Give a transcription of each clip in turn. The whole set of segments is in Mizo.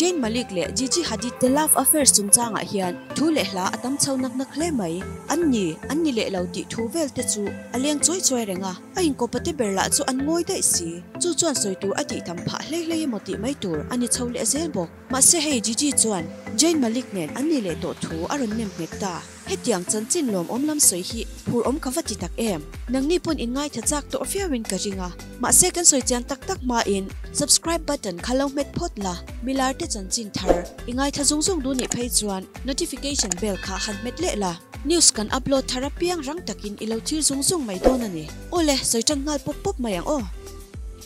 Jain Malik leh Gigi Hadid te love affair chungchangah hian thu leh hla a tam chho nak nak hle mai. An ni, an ni leh lo tih thu vel te chu a leng chuai chuai reng a, a inkawpa te ber lah chu an ngawi daih si. Chu chuan sawi tur a tih tham phah hlei hlei emaw tih mai tur a ni chho leh zel bawk. Mahse hei Gigi chuan Jain Malik nen an ni leh tawh thu a rawn nem hmek ta. Hetiang chanchin lawm awm lam sawi hi phur awm ka va ti tak em. Nangni pawn inngaithla chak tawh viauin ka ring a. Mahse kan sawi chiang tak tak hmain subscribe button kha lo hmet phawt la, milar te chanchin thar i ngaithla zung zung duh nih phei chuan notification bell kha han hmet leh la. News kan upload thar apiang rang takin i lo thlir zung zung mai dawn a ni. Awle, sawi tan nghal pawp pawp mai ang aw.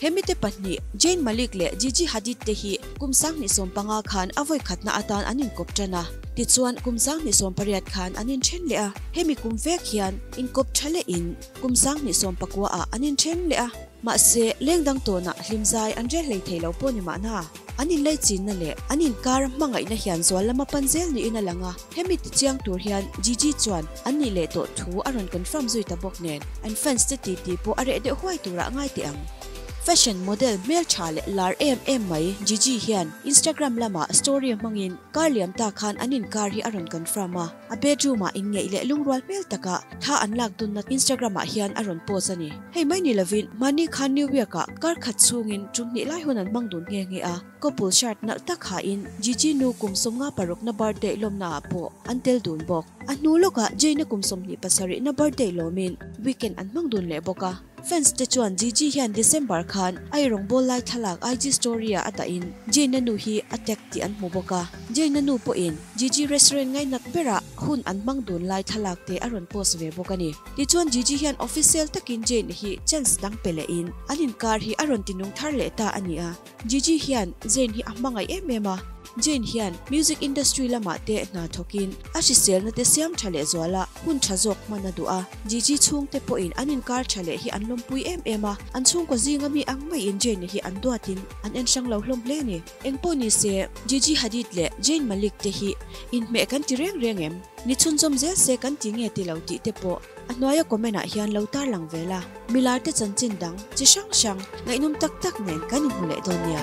He mite pahnih, Jain Malik leh Gigi Hadid te hi kum sanghnih sawm panga khan a vawikhatna atan an inkawp ṭan a. Tichuan, kum sanghnih sawm pariat khan an inthen leh a. Hemi kum vek hian inkawp ṭha leh in kum sanghnih sawm pakua ah an inthen leh a. Mahse, leng dang tawnah hlimzai an rel hlei thei lo pawh ni mahna, an inlei chinna leh an inkara hmangaihna hian zual lama pan zel niin a lang a. Hemi tichiang tur hian Gigi chuan an nih leh tawh thu a rawn confirm zui ta bawk nen an fans te titi pawh a reh deuh huai tura a ngai teh ang. Fashion model hmeltha leh lar em em mai Gigi hian Instagram lamah story hmangin kar liam ta khan an inkar hi a rawn confirm a, a bedroom-ah inngeih leh lungrual hmel taka tha an lak dunna Instagram-ah hian a rawn post a ni. Hei mai ni lovin mahni khan New York-ah kar khat chhungin tum hnih lai hun an hmang dun nghe nghe a. Couple shirt nalh tak ha in Gigi nu kum sawmnga paruk na birthday lawmna ah pawh an tel dun bawk. A hnu lawk ah Jay na kum sawmhnih pasarih na birthday lawm in weekend an hmang dun leh bawk a. Fans te chuan Gigi hian December khan ai rawngbâwl lai thlalak IG story ah a dah in Jay na nu hi a tag tih an hmu bawk a. Jay na nu pawh in Gigi restaurant ngaihnak ber ah hun an hmang dun lai thlalak te a rawn post ve bawk a ni. Tichuan Gigi hian official tak in Jay na hi chance dang pe leh in an inkar hi a rawn ti nung thar leh ta a ni a. Gigi hian Zayn hi a hmangaih em em a, Zayn hian music industry lamah te hna thawkin a hriselna te siam tha leh zuala hun tha zawk hman a duh a, Gigi chhungte pawhin an inkar tha leh hi an lawmpui em em a, an chhungkaw zinga mi ang maiin Zayn ni hi an duatin an en hrang lo hlawm hle ni. Engpawh nise, Gigi Hadid leh Zayn Malik te hi inhmeh kan ti reng reng em? Ni chhunzawm zel se kan ti nge tilo tihte pawh a hnuaia comment ah hian lo tarlang ve la. Milar te chanchin dang chi hrang hrang ngaihnawm tak tak nen kan inhmu leh dawn nia.